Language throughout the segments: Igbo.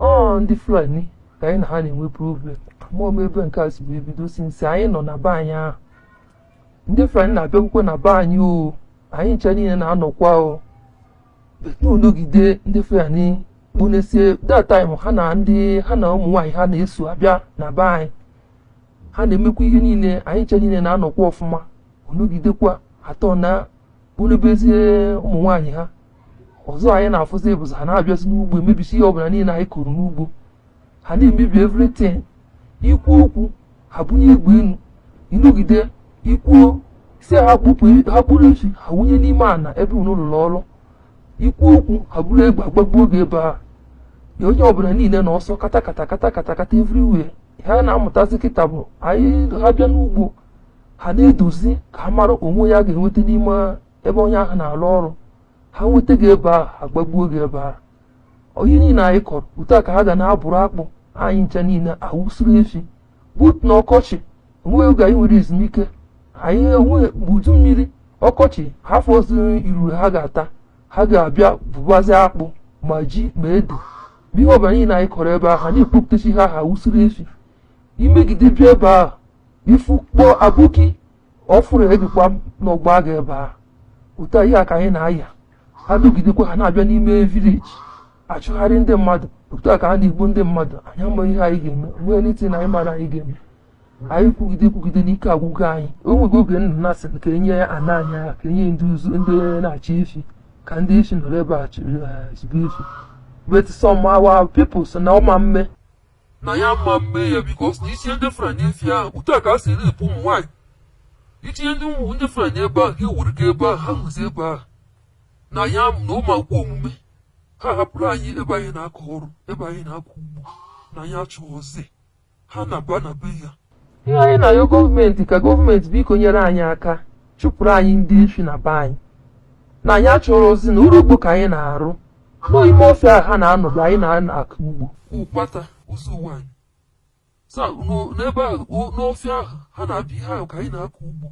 ọ ndị Fulani ka anyị na ha na-enwe problem mgbe ome ebe nke a si wee bido since anyị nọ na be anyị ahụ ndị Fulani na-abịakwukwe na be anyị o anyị ncha niile na-anọkwa o ọ nọgide ndị Fulani kponesie that time ha na ndị ha na ụmụ nwaanyị ha na-eso abịa na be anyị ha na-emekwa ihe niile anyị ncha niile na-anọkwa ọfụma ọ nọgidekwa atọ na bụrụbezie ụmụ nwaanyị ha ọzọ anyị na-afụzi bụzi ha na-abịazi n'ugbo emebisi ihe ọbụla niile anyị kụrụ n'ugbo ha na-emebi everything i kwuo okwu ha bunye egbe enu ị nọgide ikwuo si ha kpụrụ efi ha wunye n'ime ana ebe unu lụrụ ọrụ i kwuo okwu ha buru egbe agbagbuo gị ebe a ya onye ọbụla niile n'ọsọ kata kata kata kata kata everywhere ha na-amụtazi kịta bụ anyị ha bịa n'ugbo ha na-eduzi ka ha mara onye ha ga-enweta n'ime ebe onye ahụ na-arụ ọrụ ha nweta gị ebe ahụ agbagbuo gị ebe ahụ ihe niile anyị kọrọ otu a ka ha ga na-abụrụ akpụ anyị ncha niile awụsịrị efi but na ọkọchị onweghị oge anyị nwere ezumike anyị enweghị mgbe udu mmiri ọkọchị ha afụzirọ iruru ha ga-ata ha ga-abịa bụbazi akpụ ma ji ma ede ma ihe ọbụla niile anyị kọrọ ebe ahụ ha na-ekpopụtacha ha ha wụsịrị efi i megide bịa ebe ahụ ị fụ kpọọ aboki ọ fụrụ gịkwanụ ọ gbaa gị ebe a ụdị ihe a ka anyị na-aya adụgidekwa ha na-abịa n'ime vileji achụgharị ndị mmadụ otu a ka ha na-egbu ndị mmadụ anyị amaghị ihe anyị ga-eme nwee anything anyị mara anyị ga-eme anyị kwugide kwugide n'ike agwụgo anyị o nwego oge nna na-asị ka e nye ana anyị agha ka e nye ndị ụzụ ndị na-achị efi ka ndị efi nọrọ ebe a chịrị eh, chịba efi but some our people sị na ọ ma mme na ya ma mme ya because na i tinye ndị Fulani efi ahụ otu a ka ha si rape ụmụ nwaanyị i tinye ndị ụmụ ndị Fulani ebe ahụ ewuru gị ebe ahụ ha hụzi ebe ahụ na ya m na ọ ma ekwekwa omume ha hapụrụ anyị ebe anyị na-akọ ọrụ ebe anyị na-akọ ugbo na anyị achọrọzi ha na-aba na be anyị ihe anyị na-ayọ gọọmenti ka gọọmenti biko nyere anyị aka chụpụrụ anyị ndị efi na be anyị na anyị achọrọzi na ọrụ ugbo ka anyị na-arụ n'ime ọfịa ha na-anọdụ anyị na-akọ ugbo ụkpata ụzọ ụwa anyị sa n'o- n'ebe ahụ o- n'ọfịa ahụ ha na-abịa ebe ahụ ka anyị na-akọ ugbo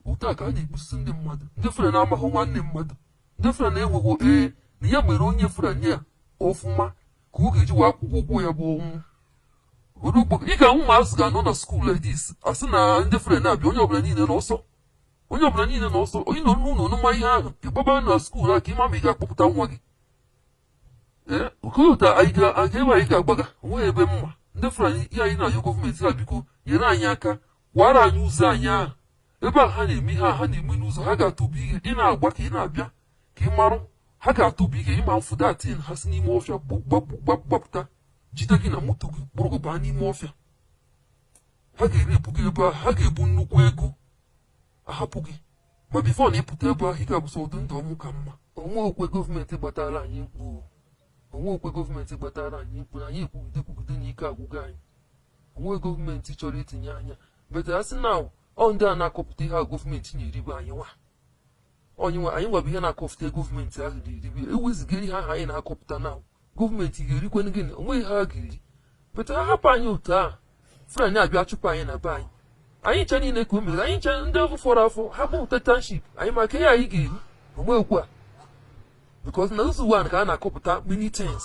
otu a ka ha na-egbusi ndị mmadụ ndị Fulani amahụ nwanne mmadụ ndị Fulani enweho ee na ya mere onye Fulani a ọfụma ka ọ ga-eji wee akwụ gị ụgwọ ya bụ ọnwụ ị ga-ahụ ụmụazị ga-anọ na skuul like this a sị na ndị Fulani na-abịa onye ọbụla niile n'ọsọ onye ọbụla niile n'ọsọ onye nọ n'ụlọ ọnụma ihe ahụ ị gbaba na skuul a ka ị ma ma ị ga-akpọpụta nwa gị ee okolota anyị ga-aga ebe anyị ga-agbaga onweghị ebe maka ndị Fulani ihe anyị na-ayọ gọọmenti ha biko nyere anyị aka kwara anyị ụzọ anyị ahụ ebe a ha na-eme ihe a ha na-eme n'ụzọ ha ga-atụbu ihe ị na-agba ka ị na-abịa ka ị marụ ha ga-atụpụ ike ịma mfụ datin ha si n'ime ọfịa gbapụta jide gị na moto gị kpụrụ gị baa n'ime ọfịa ha ga-erepụ gị ebe ahụ ha ga-ebu nnukwu ego ahapụ gị ma before na ịpụta ebe ahụ ị ga-abụ sọ ọdị ndụ ọnwụ ka mma onwe okwe gọọmenti gbatara anyị mkpu onwe okwe gọọmenti gbatara anyị mkpu na anyị ekwugide kwugide na ike agwụgo anyị onwe gọọmenti chọrọ itinye anya but a sị na ọ ndị a na-akọpụta ihe a gọọmenti na-eribe anyị nwa ọ anyị nwa anyị nwa bụ ihe na-akọpụta gọọmenti ahụ ga-eribe ewezụga ihe ahụ anyị na-akọpụta na gọọmenti ga-erikwenụ gịnị onweghị ha ga-eri but ha hapụ anyị otu a Fulani abịa chụpụ anyị na be anyị anyị ncha niile ka o mere anyị ncha ndị afọ fọrọ afọ ha kpọpụta township anyị maka ihe anyị ga-eri onwekwu a because na Ụzọ Ụwanị ka a na-akọpụta many things